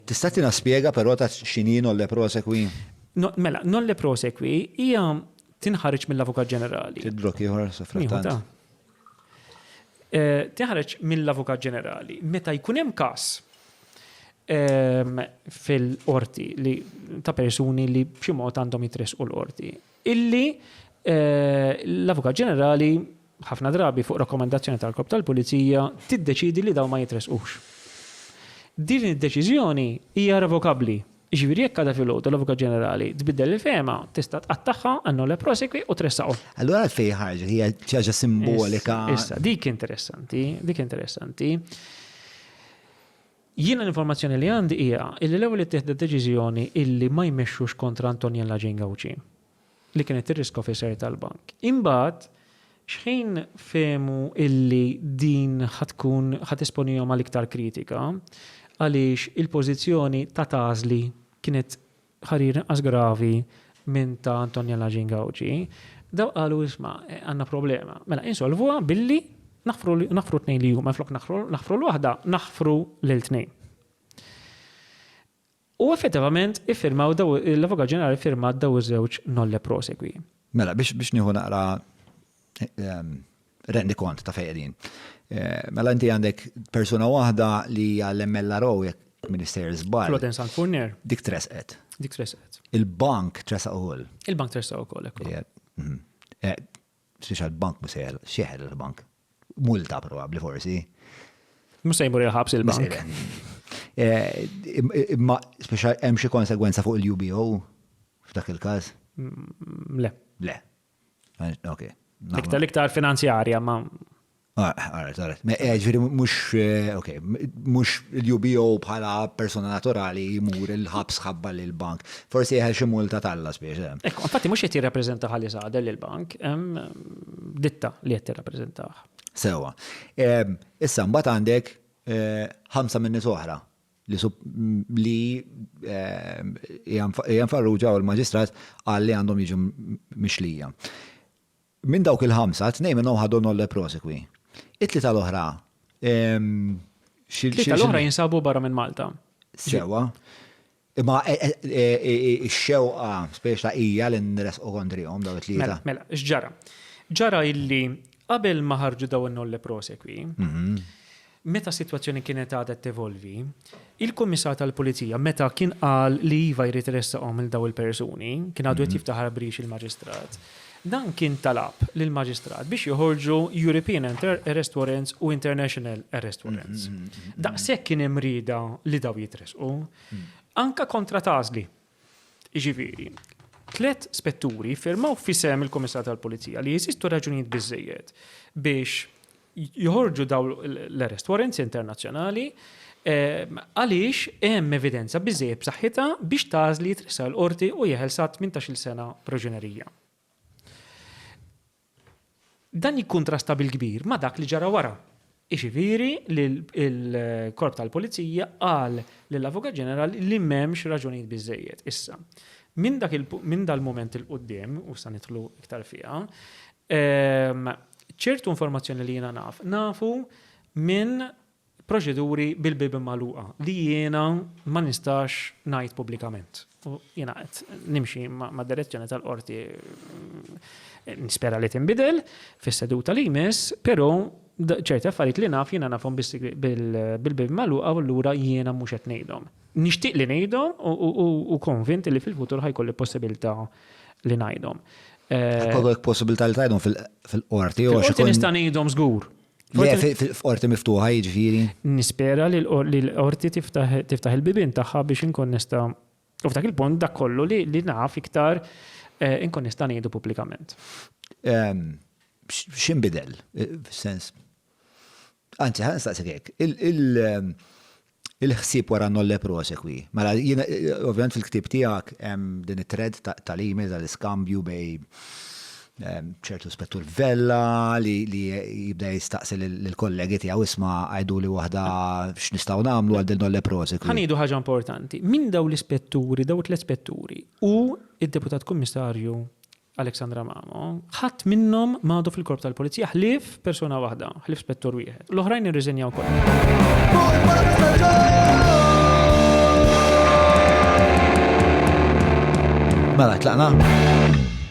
Tista' tina spjega però ta' x'inhi nolle prosequi? Mela, nolle prosequi hija tinħareġ mill-Avukat Ġenerali. Tidrok ieħor sa frattant. Tinħareġ mill-Avukat Ġenerali meta jkun hemm każ fil-qorti li ta' persuni li b'xi mod għandhom jitressqu l-qorti. Illi l-Avukat Ġenerali ħafna drabi fuq rakkomandazzjoni tal-Korp tal-Pulizija, tiddeċiedi li dawn ma jitressqux. Din id-deċiżjoni hija revokabbli. Jiġifieri jekk għada filgħodu l-Avukat Ġenerali tbiddel il-fehma, tista' tqattagħha a nolle prosequi u tressaqhom. Allura għalfejn ħarġet? Hija xi ħaġa simbolika? Issa, dik interessanti, dik interessanti. Jiena l-informazzjoni li għandi hija illi l-ewwel ittieħdet deċiżjoni illi ma jmexxux kontra Antoniella Jane Gauci. li kienet ir-risk officer tal-bank. Imbagħad xħin fehmu illi din ħa tkun ħa tesponihom għal iktar kritika għaliex il-pożizzjoni ta' Tazli kienet ħarir inqas gravi minn ta' Antoniella Gingauci, dawk qalu isma' għandna problema. Mela insolvuha billi naħfru naħfru t-tnejn li huma minflok naħfru naħfru l-waħda naħfru lil tnejn. U effettivament iffirmaw daw, l-Avukat Ġenerali ffirmat daw iż-żewġ nolle prosequi. Mela, biex biex nieħu naqra ehm, rendi kont ta' fejn qegħdin. Eh, mela inti għandek persuna waħda li hija l-MLRO jekk Minister Zbal. Florence Sant Furnier. Dik tresqet. Dik tresqet. Il-bank tresaq ukoll. Il-bank tresaq ukoll, ekku. Mhm. Eh, Speċjal bank mhux sejjer xeħel il-bank. Multa probabbli forsi. Mhux se jmur il-ħabs il-bank. Eh, imma speċjal hemm xi konsegwenza fuq il-UBO f'dak il-każ? Mm, le. Le. Eh, ok. Iktar iktar finanzjarja ma. Għarret, għarret. Ġviri, mux, ok, mux il-UBO bħala persona naturali jimur il-ħabs ħabba l-bank. Forsi jħel xi multa talla spiex. Eh. Ekku, infatti mux jett jirrapprezenta ħalli saħda l-bank, ditta li jett jirrapprezenta. Sewa. Issa, mbat għandek eh, ħamsa minni soħra li jgħan farruġa u l-magistrat għalli għandhom jiġu mixlija. Minn dawk il-ħamsa, tnejn minnhom ħadhom nolle prosequi. It-tlieta l-oħra, xi. Tlieta l-oħra jinsabu barra minn Malta. Sewwa. Imma x-xewqa speċta hija li nresqu kontrihom dawn it-tlieta. Mela, x'ġara? Ġara illi qabel ma ħarġu dawn in-nolle prosequi, Meta s-sitwazzjoni kienet għadha tevolvi, il-Kummissar tal-Pulizija meta kien qal li iva jrid iressaqhom lil dawn il-persuni, kien għadu qed jiftaħar b'rix il-Maġistrat, dan kien talab lill-Maġistrat biex joħorġu European Arrest Warrants u International Arrest Warrants. Daqshekk kien hemm rieda li dawn jitressqu. Anke kontra t-għażli. Jiġifieri, tliet spetturi ffirmaw f'isem il-Kummissarju tal-Pulizija li jeżistu raġunijiet biżżejjed biex joħorġu dawn l-arrest warrants internazzjonali ehm, għaliex hemm evidenza biżżejjed b'saħħitha biex tażli jitressaq l-qorti u jeħel sa 18-il sena proġenerija. Dan jikkuntrasta bil-kbir ma' dak li ġara wara, jiġifieri li l-Korp tal-Pulizija qal lill-Avukat Ġenerali li m'hemmx raġunijiet biżżejjed. Issa, minn dal-mument 'il quddiem, u issa nidħlu iktar fiha, ċertu informazzjoni li jiena naf, nafu minn proċeduri bil-bibien magħluqa li jiena ma nistax ngħid pubblikament. U jiena qed nimxi mad-direzzjoni tal-Qorti nispera li tinbidel fis-seduta li jmiss, però ċerti affarijiet li naf jiena nafhom bil-bibien magħluqa u allura jiena mhux qed ngħidhom. Nixtieq li ngħidhom u konvint li fil-futur ħa jkolli possibilità li ngħidhom. Ħa jkollok possibilità li tgħidhom fil-Qorti jew xi kultant. Fil-Qorti nista' ngħidhom żgur. Le, f'orti miftuħa jiġifieri. Nispera li l-orti tiftaħ il-bibin tagħha biex inkun nista' u f'dak il-punt dak kollu li naf iktar eh, inkun nista' ngħidu pubblikament. Ehm, X'inbidel, eh, f'sens. Anzi, ħanstaqsek hekk. Ehm, Il-ħsieb wara Nolle Prosequi. Mela, jiena, ovvjament fil-ktieb tiegħek hemm din it-thread tal-email tal-iskambju bejn ċertu Spettur Vella li jibda jistaqsi lill-kollegi tiegħu isma' għiduli waħda x'nistgħu nagħmlu għal din Nolle Prosequi. Ħa ngħidu ħaġa importanti. Min dawn l-ispetturi, dawn it-tliet spetturi u d-Deputat Kummissarju Alexandra Mamo, Ħadd minnhom m'għadu fil-Korp tal-Pulizija ħlief persuna waħda, ħlief spettur wieħed. L-oħrajn irriżenjaw kollha. Mela, tlaqna?